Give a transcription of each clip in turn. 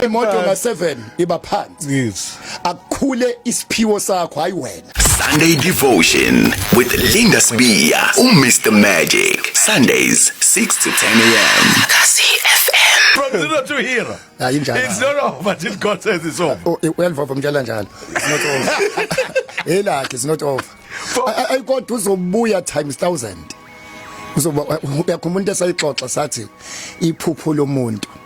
imoto na 7 iba phansi yes akukhule isiphiwo sakho hayi wena Sunday Devotion with Linda Sbiya uMr Magic Sundays 6 to 10 a.m. Kasi FM From zero to hero Hayi njalo It's not over till God says it's over oh, Uyalivova mtshela njalo It's not over Elakhe it's not over Ayikodwa uzobuya times 1000 uzoba uyakhumula into esayixoxa sathi iphupho lomuntu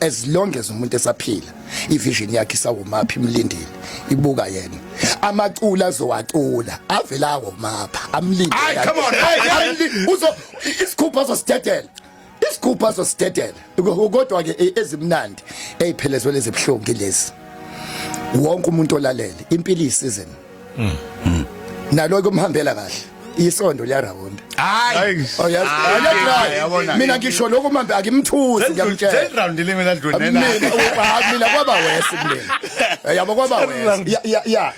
as long as umuntu esaphila ivision yakhe isawumaphi imlindile ibuka yena amacula azowacula avela awomapha amlinde ay come on hey uzo isikhupha azosithetela isikhupha azosithetela kodwa ke e, ezimnandi eziphelezwe lezibhlungu lezi wonke umuntu olalele impilo isizini Mm. Mm. Nalo kumhambela kahle. Isondo liyarawunda. Hayi. Oh yes. Hayi. Mina ngisho lokho manje akimthusi ngiyamtshela. Third round limi la dlule na. Mina kwaba wesi mina. Yabo kwaba wesi. Ya ya ya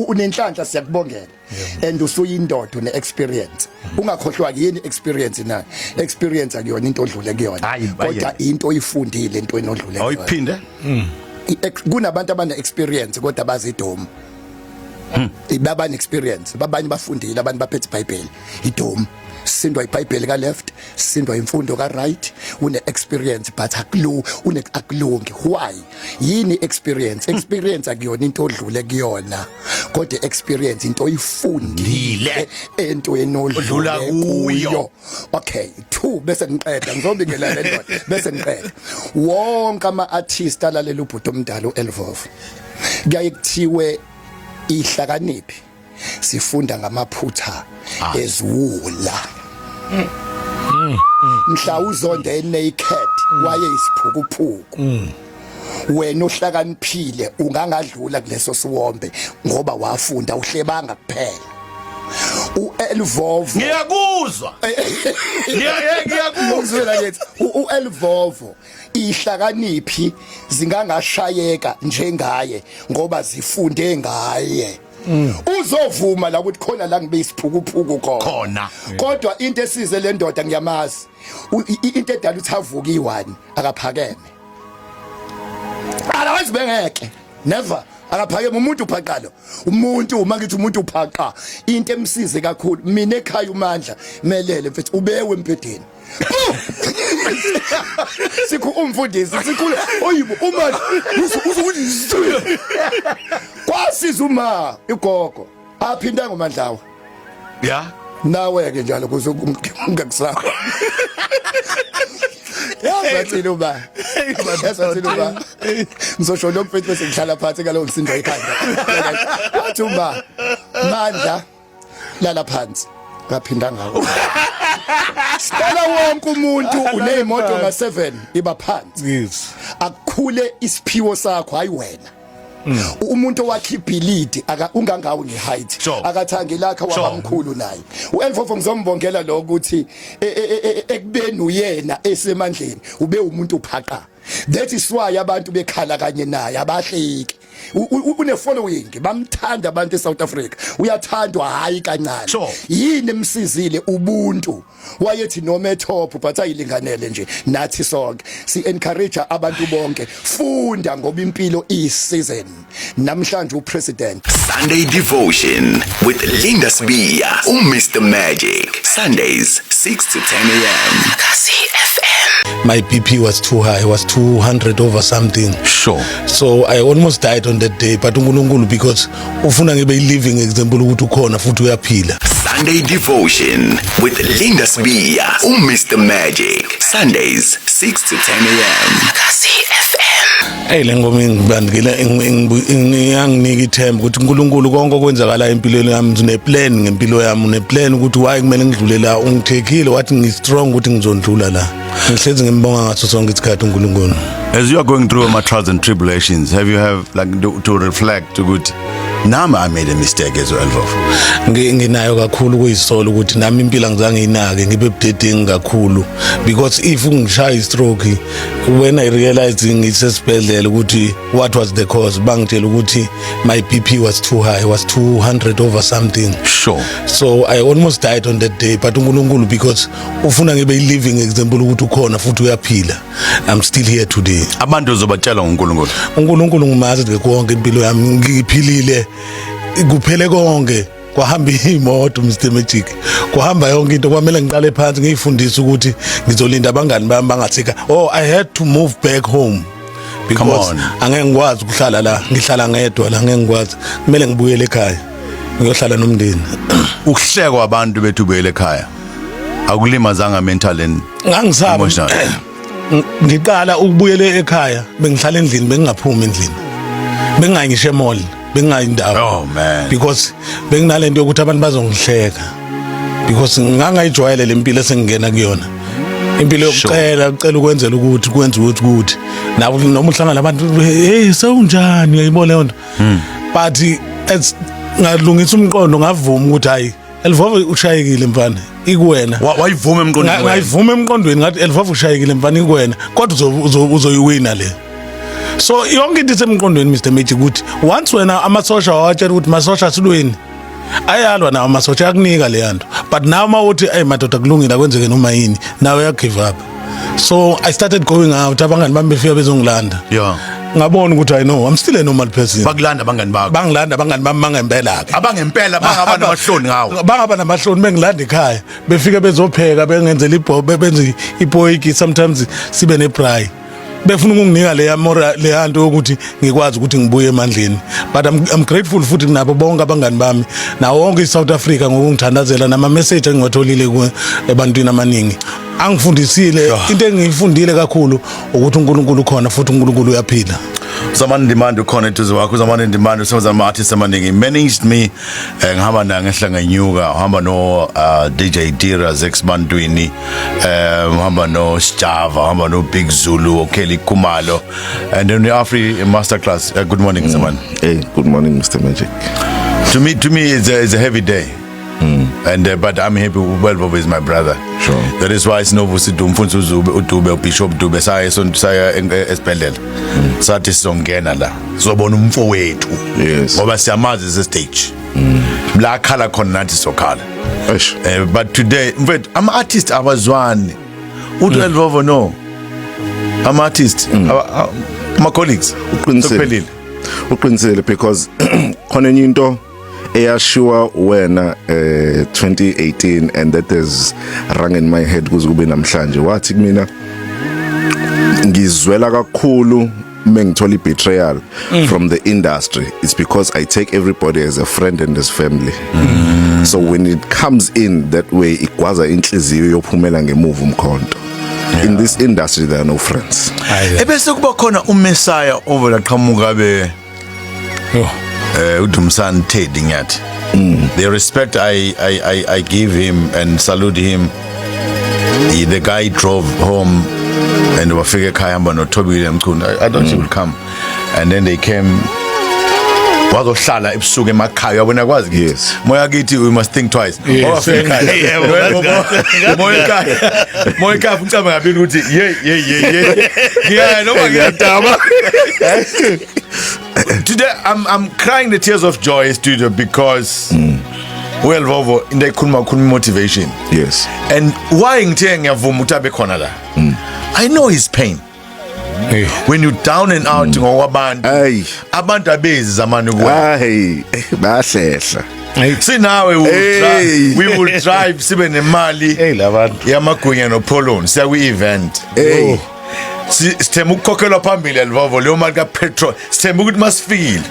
unenhlanhla siyakubongela. And usuyindoda une experience. Ungakhohlwa yini experience na? Experience akuyona into odlule kuyona. Kodwa into oyifundile into enodlule kuyona. Awuyiphinde? Mm. kunabantu abane experience kodwa bazidomu hmm. ibaba an experience babanye bafundile abantu baphethe iBhayibheli idomu sindwa iBhayibheli ka left sindwa imfundo ka right une experience but akulu une akulungi why yini experience hmm. experience akuyona into odlule kuyona kodwa experience into oyifundile ento enodlula kuyo okay two bese ngiqeda ngizobingela le ndoda bese ngiqeda wonke ama artist alalela ubhuti omdala uElvovo kuyaye kuthiwe ihlakaniphi sifunda ngamaphutha ah. eziwula mm. Mm. mhla uzonda enaked mm. waye isiphukuphuku wena ohlakaniphile ungangadlula kuleso siwombe ngoba wafunda uhlebanga kuphela uElvovo ngiyakuzwa ngiyakuzwa ngiyakuzwa uElvovo ihlakaniphi zingangashayeka njengaye ngoba zifunde ngaye mm. uzovuma la ukuthi khona la ngibe isiphukuphuku khona kodwa into esize le ndoda ngiyamazi into edala ukuthi avuke iwani akaphakeme alawazi bengeke never akaphakeme umuntu uphaqa lo umuntu uma ngithi umuntu uphaqa into emsize kakhulu mina ekhaya umandla melele mfethu ubewe empedeni sikhu umfundisi sikhule oyibo uma uzokuthi kwasiza uma igogo aphinda ngomandlawa ya nawe ke njalo kuze ungakusaba yazathini uba yazathini uba ngizosho lo mfethu bese ngihlala phansi ngalowo msindo ekhanda wathi uba mandla lala phansi ngaphinda ngawo Sicela wonke umuntu unezimoto nga7 iba phansi. Yes. Akukhule isiphiwo sakho hayi wena. Mm. umuntu owakhe ibhilidi aka ungangawo ngeheight Sure. akathangi lakha Sure. wabamkhulu naye uElfofo ngizombongela lo ukuthi e- e- e- e- ekubeni uyena esemandleni ube umuntu uphaqa that is why abantu bekhala kanye naye abahleki une following bamthanda abantu eSouth Africa uyathandwa hayi kancane sure. yini emsizile ubuntu wayethi noma etop but ayilinganele nje nathi sonke si encourage abantu bonke funda ngoba impilo iyi season namhlanje upresident Sunday devotion with Linda Sbiya u Mr Magic Sundays 6 to 10 a.m. My BP was too high, it was 200 over something. Sure. so i almost died on that day but unkulunkulu because ufuna ngibe i-living example ukuthi ukhona futhi uyaphila Sunday Devotion with Linda Sbiya, um Mr Magic. Sundays 6 to 10 a.m. eyi le ngoma ingibandikela iyanginika ithemba ukuthi unkulunkulu konke okwenzakalayo empilweni yami uneplan ngempilo yami uneplan ukuthi waye kumele ngidlule la ungithekile wathi ngi-strong ukuthi ngizondlula la ngihlezi ngimbonga ngaso sonke isikhathi uNkulunkulu as you are going through my trials and tribulations have you have like to, to reflect ukuthi nami i made a mistake as well bafo nginayo kakhulu kuyisola ukuthi nami impilo angizange yinake ngibe budedengi kakhulu because if ungishaya istroke when i realized ngisesibhedlela ukuthi what was the cause bangitshela ukuthi my bp was too high was 200 over something sure so i almost died on that day but uNkulunkulu because ufuna ngibe i-living example ukuthi ukhona futhi uyaphila i'm still here today abantu uzobatshela ngoNkulunkulu uNkulunkulu ngimazi nje konke impilo yami ngiphilile kuphele konke kwahamba imoto Mr Magic kuhamba yonke into kwamele ngiqale phansi ngiyifundise ukuthi ngizolinda abangani bami bangathika oh i had to move back home because angeke ngikwazi ukuhlala la ngihlala ngedwa la ngeke ngikwazi kumele ngibuyele ekhaya ngiyohlala nomndeni ukuhlekwa abantu bethu buyele ekhaya akulimazanga mental and ngangisaba emotional ngiqala ukubuyela ekhaya bengihlala endlini bengingaphumi endlini bengingayi ngisho emall bengingayi ndawo oh man because benginalento yokuthi abantu bazongihleka because ngangayijwayele lempilo esengingena kuyona impilo yokucela ucela ukwenzela ukuthi kwenza ukuthi ukuthi nawo noma uhlangana abantu hey sewunjani uyayibona leyo nto hmm. but as ngalungisa umqondo ngavuma ukuthi hayi Elvova ushayekile mfana ikuwena wayivuma emqondweni wayivuma emqondweni ngathi Elvova ushayekile mfana ikuwena kodwa uzoyiwina le so yonke into isemqondweni Mr Magic ukuthi once wena amasosha wawatshela ukuthi masosha silweni ayalwa nawo amasosha akunika leyanto but nawe uma uthi ayi madoda kulungile akwenzeke noma yini nawe uyagive up so i started going out abangani bami befika bezongilanda yeah ngabona ukuthi i know i'm still a normal person bakulanda abangani bakho bangilanda abangani bami bangempela ke abangempela bangaba namahloni ngawo bangaba namahloni bengilanda ekhaya befike bezopheka bengenzela ibhobe benze ipoyiki sometimes sibe ne braai befuna ukunginika leya mora leya nto yokuthi ngikwazi ukuthi ngibuye emandleni but I'm, I'm grateful futhi kunabo bonke abangani bami nawo wonke iSouth Africa ngokungithandazela nama message engiwatholile ebantwini abaningi angifundisile into engiyifundile kakhulu ukuthi uNkulunkulu ukhona futhi uNkulunkulu uyaphila Someone demand ukhona eduze wakho someone demand usebenza ama artists amaningi managed me eh ngihamba naye ngehla ngenyuka uhamba no uh, DJ Tira Zex Bantwini eh uhamba no Sjava uhamba no Big Zulu oKelly Kumalo and then the Afri masterclass uh, good morning Zaman mm. hey good morning Mr Magic to me to me it's a, it's a heavy day Mm. And uh, but I'm happy Welbobo is my brother. Sure. That is why sinovusi Dube mfundisi uZube uDube uBishop Dube saye sonto saya esibhedlela. Mm. Sathi sizongena la. zobona umfowethu Yes. ngoba siyamazi ese stage la khala khona nathi sokhala Eish. Eh, but today mfethu ama artist abazwani uthi Mm. elvovo no ama artist aba- a- ama colleagues Uqinisile. Sekuphelile. uqinisile because khona enye into eyashiwa wena eh 2018 and that is rang in my head kuze kube namhlanje wathi kumina ngizwela kakhulu mengithola ibetrayal mm. from the industry it's because i take everybody as a friend and as family mm. so when it comes in that way igwaza inhliziyo yophumela ngemuva umkhonto yeah. in this industry there are no friends ebese kuba khona umessiah ovela qhamuka be Yho. eh uDumsani Teddy ngiyathi Mm. the respect I, I I I give him and salute him he, the guy drove home and wafika ekhaya hamba noThobile Mchunu I, I don't think will come and then they came wazohlala ebusuku emakhaya yabona kwazi kithi Yes. moya kithi we must think twice moyikafa ucaba ngabili ukuthi yeyi yeyi yeyi ngiyaya noma ngiyadaba today I'm, I'm crying the tears of joy studio because mm. well vovo into ekhuluma khuluma motivation yes and why ngithe ngiyavuma ukuthi abe khona la mm. i know his pain when you down and out mm. ngokwabantu abantu abezi zamani kuwe hayi bahlehla sinawe we will drive sibe nemali yamagunya nopholoni siya kwi-event oh. sithemba ukukhokhelwa phambili elivovo leyo mali kapetrol sithemba ukuthi masifikile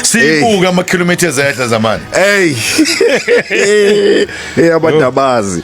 siyibuke amakhilomitha ezehla zamani eyi abantu abazi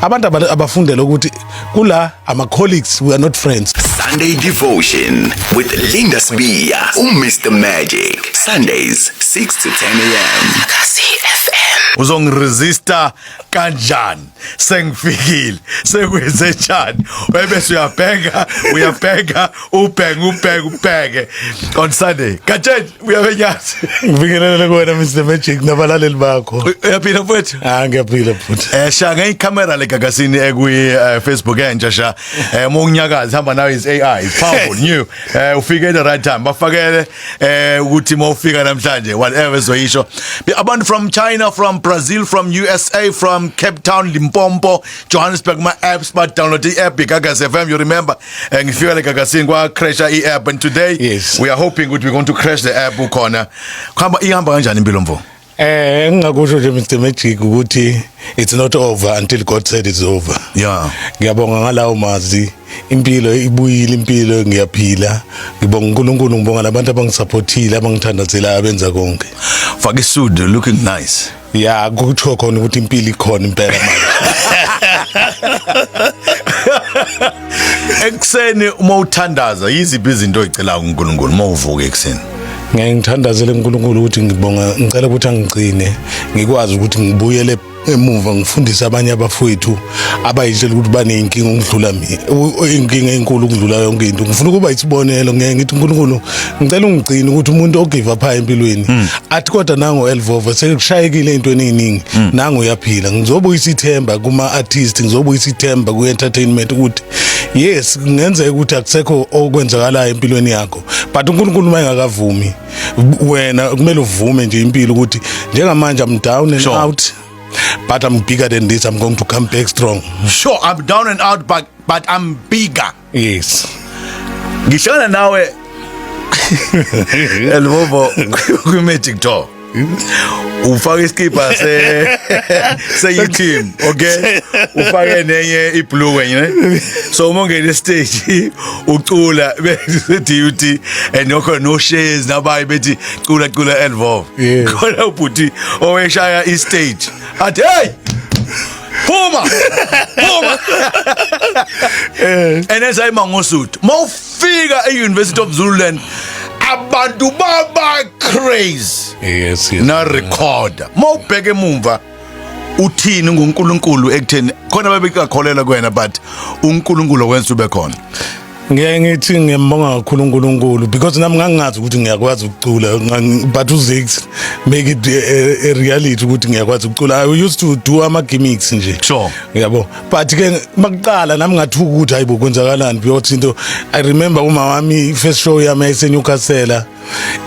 abantu abafundele ukuthi kula ama colleagues we are not friends Sunday devotion with Linda Sbiya uMr Magic Sundays 6 to 10 am Kasi FM uzongiresista kanjani sengifikile sekwenze njani webese uyabheka uyabheka ubheka ubheka ubheke on Sunday katsheni uyabe nyazi ngibingelele kuwena Mr Magic nabalaleli bakho uyaphila mfowethu ah ngiyaphila futhi eh sha ngeyi camera le gagazini ekwi eh, Facebook entsha sha eh uma unyakazi hamba nayo is AI is powerful new eh ufike at the right time bafakele eh ukuthi uma ufika namhlanje whatever zoyisho abantu from China from Brazil from USA from Cape Town Limpopo Johannesburg my apps but download the app gagaz FM you remember Eh, ngifika le gagasini kwa crasha i app and today yes. we are hoping ukuthi we going to crash the app ukhona khamba ihamba kanjani impilo mfo Eh engingakusho nje Mr Magic ukuthi it's not over until God said it's over. Yeah. Ngiyabonga ngalawo mazi impilo ibuyile impilo ngiyaphila ngibonga uNkulunkulu ngibonga labantu abangisupportile abangithandazela abenza konke. Faka isudu looking nice. ya kuthiwa khona ukuthi impilo ikhona impela manje ekuseni uma uthandaza yiziphi izinto oyicelayo kuNkulunkulu uma uvuka ekuseni ngeke ngithandazele uNkulunkulu ukuthi ngibonga ngicela ukuthi angigcine ngikwazi ukuthi ngibuyele emuva ngifundise abanye abafowethu abayitshela ukuthi baney'nkinga ukudlula mina inkinga enkulu ukudlula yonke into ngifuna ukuba isibonelo ngeke ngithi unkulunkulu ngicela ungigcine ukuthi umuntu ogive up high empilweni hmm. athi kodwa nango elvova sekushayekile ey'ntweni ey'ningi hmm. nango uyaphila ngizobuyisa ithemba kuma-artist ngizobuyisa ithemba kwi-entertainment ukuthi yes kungenzeka ukuthi akusekho okwenzakalayo empilweni yakho but uNkulunkulu uma engakavumi wena kumele uvume nje impilo ukuthi njengamanje I'm down and sure. out But I'm bigger than this. I'm going to come back strong. Sure, I'm down and out but but I'm bigger. Yes. Ngihlala nawe Elbobo kwi magic door. ufake iskipa se se team okay ufake nenye iblue wenye ne so uma ungena stage ucula be DUT and yokho no shares nabayi bethi cula cula elvo Yeah. khona ubhuti oweshaya istage athi hey phuma phuma Eh. and as i mangosuthu mawufika e University of Zululand abantu baba crazy yes yes na recorder mawubheke emumva uthini ngoNkulunkulu ekutheni khona babekakholelwa kuwena but uNkulunkulu wenza ube khona Ngeke ngithi ngiyambonga kakhulu uNkulunkulu because nami ngangingazi ukuthi ngiyakwazi ukucula but uZix make it a, eh, eh, a reality ukuthi ngiyakwazi ukucula I used to do ama gimmicks nje sure yabo but ke makuqala nami ngathuka ukuthi hayibo kwenzakalani because into I remember uma wami first show yami eseNewcastle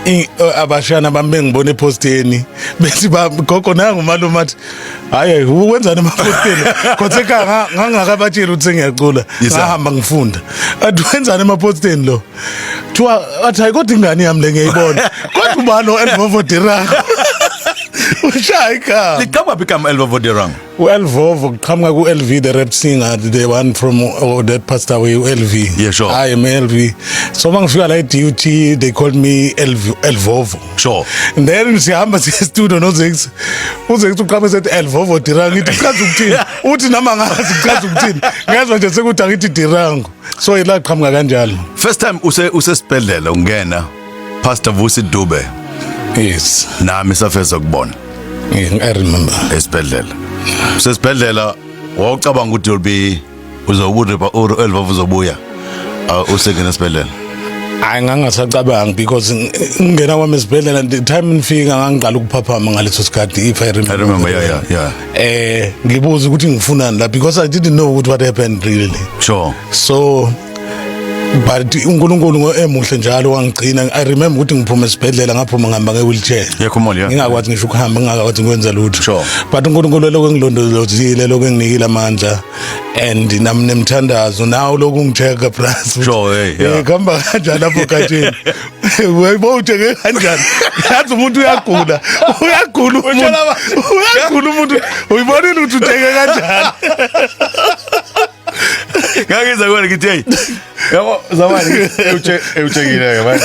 eh, abashana bami bengibona ephosteni bethi gogo nangu malume athi hayi wenzani emaphosteni khothe ka ngangakabatshela ukuthi ngiyacula ngahamba ngifunda athi wenzani emaphosteni lo kuthiwa athi hayi kodwa ingane yami le ngiyayibona kodwa ubani o-elvovodirang ushaya igama liqamba phi igama elvovodirang U-Elvovo kuqhamuka ku-LV the rap singer the one from oh, that passed away u-LV. Yeah, sure. I am LV. So uma ngifika la e-DUT they called me LV, Elvovo. Sure. And then sihamba siye studio noZex. UZex uqhamuka sethi Elvovo Dirang ithi chaza ukuthini. Uthi nama ngazi chaza ukuthini. Ngezwe nje sekuthi angithi Dirango. So ila qhamuka kanjalo. First time use usesibhedlela ungena Pastor Vusi Dube yes nami safeza kubona yeah, i remember esibhedlela sesibhedlela wawucabanga ukuthi you'll be uzokurepa or elvavu uzobuya uh, usengena esibhedlela hayi ngangasacabangi because ngingena kwami esibhedlela the time ngifika ngangiqala ukuphaphama ngaleso sikhathi if i remember i remember yeah yeah yeah eh ngibuza ukuthi ngifunani la because i didn't know what happened really sure so but uNkulunkulu emuhle njalo wangigcina i remember ukuthi ngiphuma esibhedlela ngaphuma ngihamba nge wheelchair yekho moli yeah ngingakwazi ngisho ukuhamba ngingakwazi ngikwenza lutho sure. but uNkulunkulu lokho engilondolozile lokho enginikile amandla and nam nemthandazo nawo lokho ungicheka plus sure hey yeah. khamba kanjani lapho khathini uyayibo uthenge kanjani yazi umuntu uyagula uyagula umuntu uyagula umuntu uyibonile ukuthi uthenge kanjani Ngangeza kona ngithi hey. Yabo zamani uche uchekile ke manje.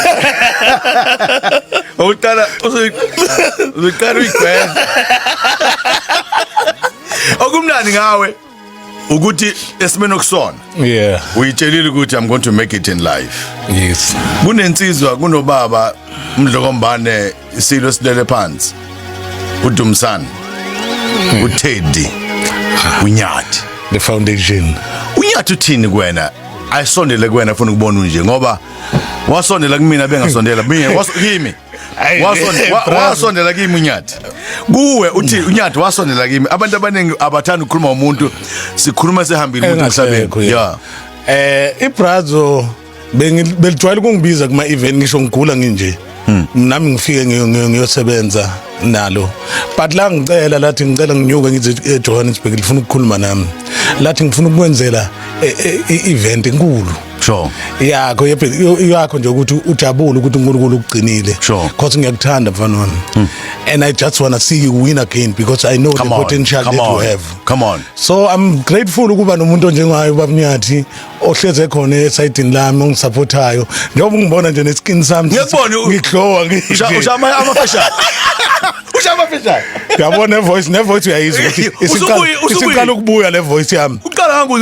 Uqala uzoqala uyigweza. Okumnandi ngawe ukuthi esimene okusona. Yeah. Uyitshelile ukuthi I'm going to make it in life. Yes. Kunensizwa kunobaba umdlokombane isilo esilele phansi uDumsani uTeddy uNyathi the foundation uNyathi uthini kuwena ayisondele kuwena afuna ukubona unje ngoba wasondela kumina bengasondela mina kimi wasondela kimi unyathi kuwe uthi unyathi wasondela kimi abantu abaningi abathanda ukukhuluma umuntu sikhuluma sehambile umuntu emhlabeni yeah eh ibrazo Bengi- belijwayele ukungibiza kuma event ngisho ngigula nginje Hmm. nami ngifike ngiyo- ngiyo- ngiyosebenza nalo but la ngicela lathi ngicela nginyuke ngize ejohannesburg lifuna ukukhuluma nami lathi ngifuna ukukwenzela e- e- i-event enkulu Sure. yakho yebhe- yo- yakho nje ukuthi ujabule ukuthi uNkulunkulu ukugcinile Sure. Hmm. because ngiyakuthanda mfana wami and i just want to see you win again because i know Come the on. potential Come that you on. have Come on. so i'm grateful ukuba nomuntu onjengayo babnyathi ohleze khona esayidini lami ongisupportayo njengoba ungibona nje neskin sami Ngiyakubona u- ngiglowa Usha- usha ama- amafashane usha amafashane yabo ne voice ne voice uyayizwa ukuthi Usubuye- isiqala usubuye. isiqala ukubuya le voice yami uqala hangu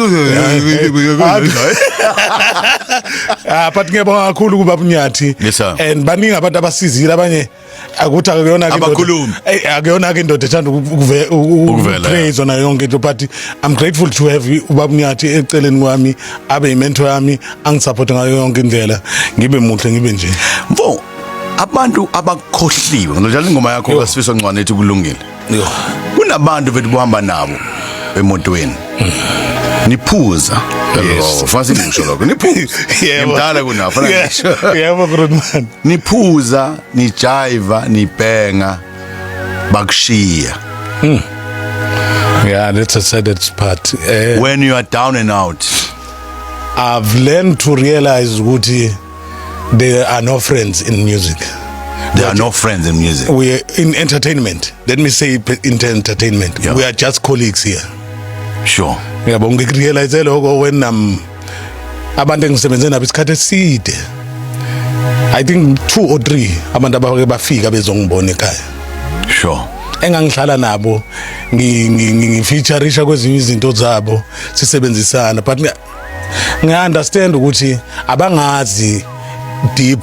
ah but ngiyabonga kakhulu kuba bunyathi Yes, sir. and baningi abantu abasizile abanye akuthi akuyona ke abakhulumi akuyona ke indoda ethanda ukupraise na yonke into but i'm grateful to have ubaba Nyathi eceleni kwami abe imentor yami angisupport ngayo yonke indlela ngibe muhle ngibe nje mfo abantu abakhohliwe ngilojalela ingoma yakho kasifisa ncwane ethi kulungile kunabantu bethu bohamba nabo emotweni niphuza Yes. Oh, fansi ngisho lokho niphuza Yebo. ngimdala kunabo fanele Yeah, ngisho. yebo Grootman niphuza nijiva nibhenga bakushiya yeah that's a sad part eh when you are down and out I've learned to realize ukuthi There are no friends in music. There are no friends in music. We are in entertainment. Let me say in entertainment. Yeah. We are just colleagues here. Sure. Yabo ngikurealize lokho when um abantu engisebenze nabo isikhathi eside. I think two or three abantu abake bafika bezongibona ekhaya. Sure. engangihlala nabo ngifeaturisha kwezinye izinto zabo sisebenzisana but ngiya understand ukuthi abangazi deep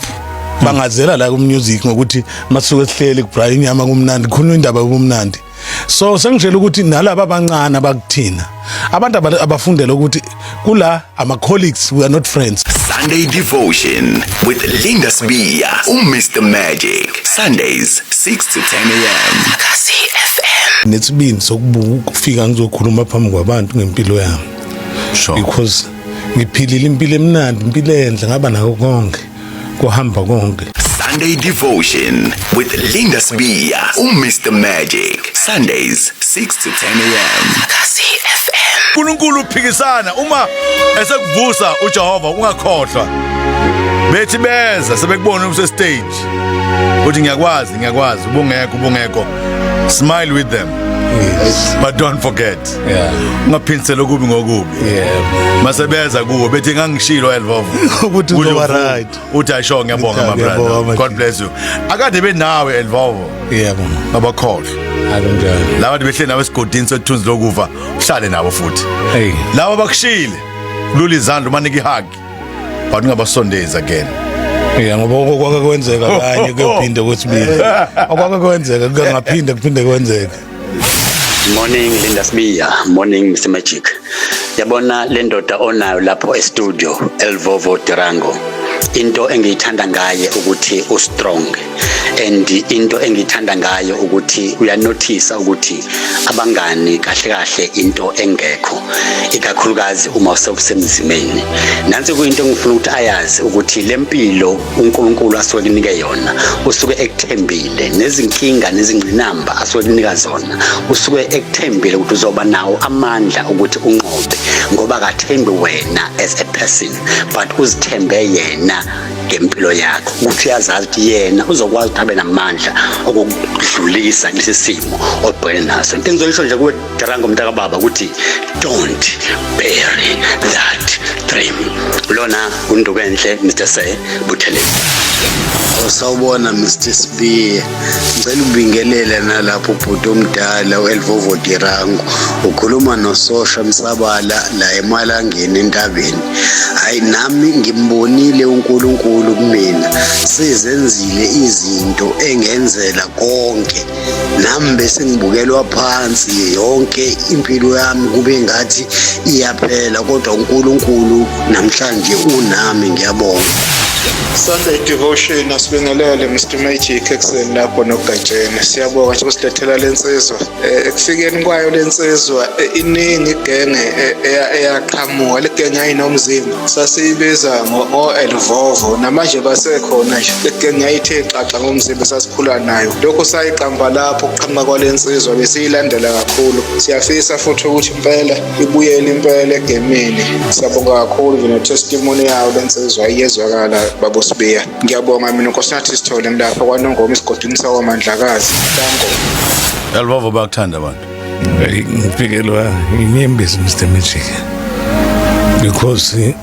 bangazela la ku music ngokuthi masuke sihleli kubra inyama kumnandi khona indaba kumnandi so sengishela ukuthi nalabo abancane abakuthina abantu abafundela ukuthi kula ama colleagues we are not friends Sunday devotion with Linda Sbiya uMr Magic Sundays 6 to 10 am Kasi FM Netsibini sokufika ngizokhuluma phambi kwabantu ngempilo yami sure. because ngiphilile impilo emnandi impilo enhle ngaba nayo konke kuhamba konke Sunday Devotion with Linda Sbiya, uMr Magic. Sundays 6 to 10 a.m. uNkulunkulu uphikisana uma esekuvusa uJehova ungakhohlwa bethi beza sebekubona use stage uthi ngiyakwazi ngiyakwazi ubungekho ubungekho smile with them yes. but don't forget yeah ungaphindisela okubi ngokubi yebo mase beza kuwe bethi ngangishilo elvovo ukuthi uzoba right uthi ayisho ngiyabonga my brother god bless you akade benawe elvovo yebo abakhohle akunjani laba behle nawe esigodini sothunzi lokuva uhlale nabo futhi hey laba bakushile lula izandla umanike ihagi but ungabasondezi again Yeah ngoba okwake kwenzeka kanye kuyophinde kwesibili. Okwake kwenzeka kungaphinde kuphinde kwenzeke. Morning Linda Sbiya, morning Mr Magic. Yabona le ndoda onayo lapho e-studio Elvovo Durango. Into engiyithanda ngaye ukuthi u strong and into engiyithanda ngayo ukuthi uyanothisa ukuthi abangani kahle kahle into engekho ikakhulukazi uma usewusemzimeni nansi kuyinto engifuna ukuthi ayazi ukuthi lempilo uNkulunkulu asuke kunike yona usuke ekuthembile nezinkinga nezingqinamba asuke kunika zona usuke ekuthembile ukuthi uzoba nawo amandla ukuthi unqobe ngoba akathembi wena as a person but uzithembe yena ngempilo yakho ukuthi uyazazi ukuthi yena uzokwazi ukuthi abe namandla okudlulisa kulesi simo obhekene naso into engizoyisho nje kuwe Tarango mntaka baba ukuthi don't bury that dream. Lona unduku enhle Mr. Se Buthelezi. Sawubona Mr. Spear. Ngicela ubingelele nalapho ubhuti omdala uElvovo Dirango. Ukhuluma nososha Msabala la emalangeni entabeni. Hayi nami ngimbonile uNkulunkulu kumina. Sizenzile izinto engenzela konke. nami bese ngibukelwa phansi yonke impilo yami kube ngathi iyaphela kodwa uNkulunkulu namhlanje unami ngiyabonga Sunday devotion asibingelele Mr Magic ekuseni lapho nogatsheni siyabonga nje usilethela lensizwa eh, ekufikeni kwayo lensizwa eh, iningi igenge eh, eyaqhamuka legenge ayinomzimba sasiyibiza ngo-elvovo namanje basekhona nje eke ngayithe xaxa ngomzimba esasikhula nayo lokhu sayiqamba lapho ukuqhamuka kwale nsizwa besiyilandela kakhulu siyafisa futhi ukuthi impela ibuyele impela egemini siyabonga kakhulu nje netestimoni yawo le nsizwa iyezwakala babosibiya ngiyabonga mina nkosinathi sithole ngilapha kwanongoma isigodini sakwamandlakazi tango elvovo bakuthanda abantu ngiphikelwa inyembezi Mr Magic because eh,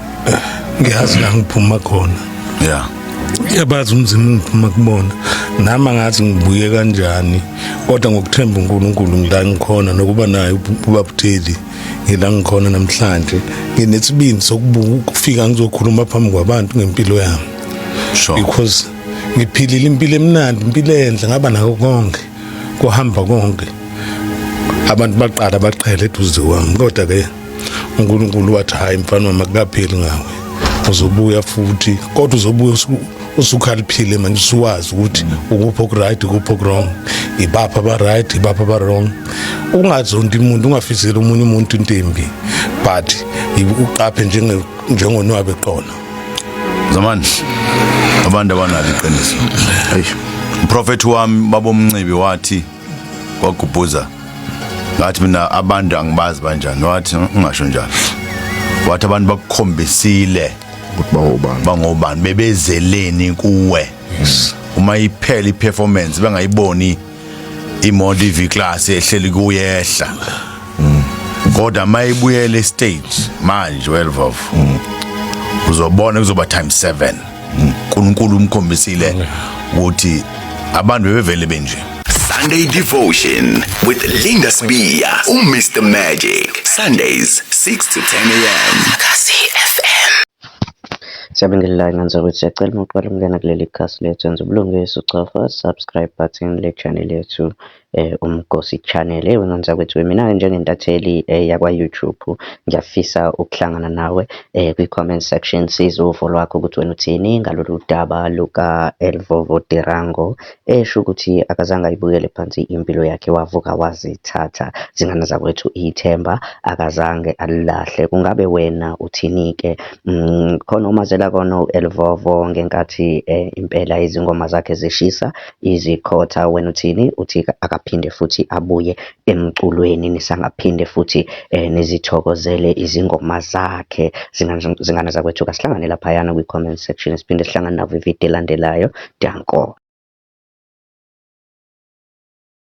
ngiyazi la ngiphuma khona yeah yabazi umzimba ungiphuma kubona nami angathi ngibuye kanjani kodwa ngokuthemba uNkulunkulu ngila ngikhona nokuba naye ubabuteli ngila ngikhona namhlanje nginesibindi sokubuka ukufika ngizokhuluma phambi kwabantu ngempilo yami sure because ngiphilile impilo emnandi impilo enhle ngaba nako konke kuhamba konke abantu baqala baqhele eduze kwami kodwa ke uNkulunkulu wathi hayi mfana wami akukapheli ngawe uzobuya futhi kodwa uzobuya usukhaliphile manje usuwazi ukuthi ukuphi okuright ukuphi okurong ibapha abaright ibapha abarong ungazonti umuntu ungafiseli omunye umuntu intembi but uqaphe njengonwabe qona zamandla abantu abanalo iqiniso eish uprofethi wami babomncibi wathi kwagubhuza ngathi mina abantu angibazi banjani wathi "Mm, ungasho njalo wathi abantu bakukhombisile ukuthi bawobani bangobani bebezeleni kuwe uma iphela iperformance bengayiboni imoto iv class ehleli kuyehla kodwa mayibuyele stage manje welvov uzobona kuzoba time 7 uNkulunkulu umkhombisile ukuthi abantu bebevele benje Sunday Devotion with Linda Sbiya, uMr Magic. Sundays 6 to 10 a.m. Kasi FM. Siyabingelelana ngane zakwethu, siyacela uma uqala ukungena kuleli khasi lethu yenza ubulungiswa ucofa subscribe button le channel yethu uMgosi Channel. Ewe ngane zakwethu, mina-ke njengentatheli yakwa-YouTube ngiyafisa ukuhlangana nawe kwi-comment section sizwe uvo lwakho ukuthi wena uthini ngalolu daba luka-Elvovo Tirango Esho ukuthi akazange ayibukele phansi impilo yakhe wavuka wazithatha zingane zakwethu ithemba akazange alilahle kungabe wena uthinike mm, khona umazela kona u-elvovo ngenkathi eh, impela izingoma zakhe zishisa izikhotha wena uthini uthi akaphinde futhi abuye emculweni nisangaphinde futhi eh, nizithokozele izingoma zakhe zingane zakwethu kasihlangane laphayana kwi-comment section siphinde sihlangane navo ividiyo elandelayo danko